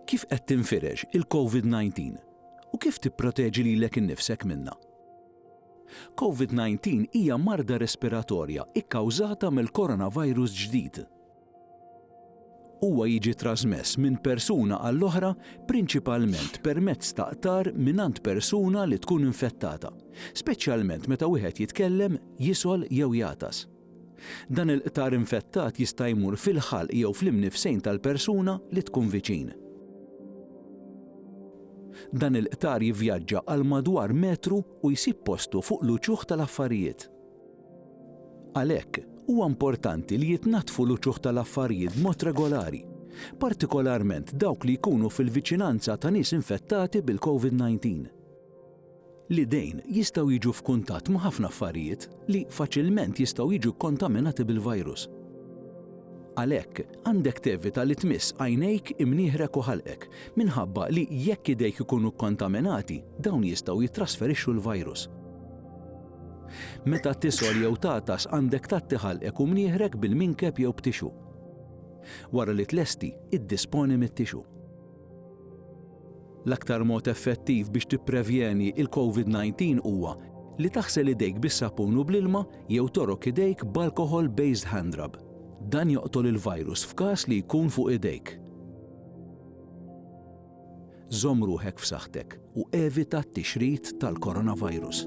Kif qed tinfirex il-COVID-19 u kif tipproteġi lilek innifsek minnha? COVID-19 hija marda respiratorja kkawżata mill-coronavirus ġdid. Huwa jiġi trasmess minn persuna għall-oħra prinċipalment permezz ta' qtar mingħand persuna li tkun infettata, speċjalment meta wieħed jitkellem, jisgħol jew jagħtas. Dan il-qtar infettat jista' jmur fil-ħalq jew fl-imnifsejn tal-persuna li tkun viċin. Dan il-qtar jivvjaġġa għal madwar metru u jsib postu fuq l-uċuħ tal-affarijiet. Għalhekk, huwa importanti li jitnaddfu l-uċuħ tal-affarijiet b'mod regolari, partikolarment dawk li jkunu fil-viċinanza ta' nies infettati bil-COVID-19. L-idejn jistgħu jiġu f'kuntatt ma' ħafna affarijiet li faċilment jistgħu jiġu kkontaminati bil-virus. Għalhekk, għandek tevita li tmiss għajnejk, imnieħrek u ħalqek, minħabba li jekk idejk ikunu kkontaminati, dawn jistgħu jittrasferixxu l-virus. Meta tisgħol jew tagħtas għandek tgħatti ħalqek u mnieħrek bil-minkeb jew b'tixu. Wara li tlesti, iddisponi mit-tixu. L-aktar mod effettiv biex tipprevjeni il-COVID-19 huwa li taħsel idejk bis-sapun u bl-ilma jew torok idejk b'alcohol based hand rub. Dan joqtol il-virus f'każ li jkun fuq idejk. Żomm ruħek f'saħħtek u evita t-tixrid tal-coronavirus.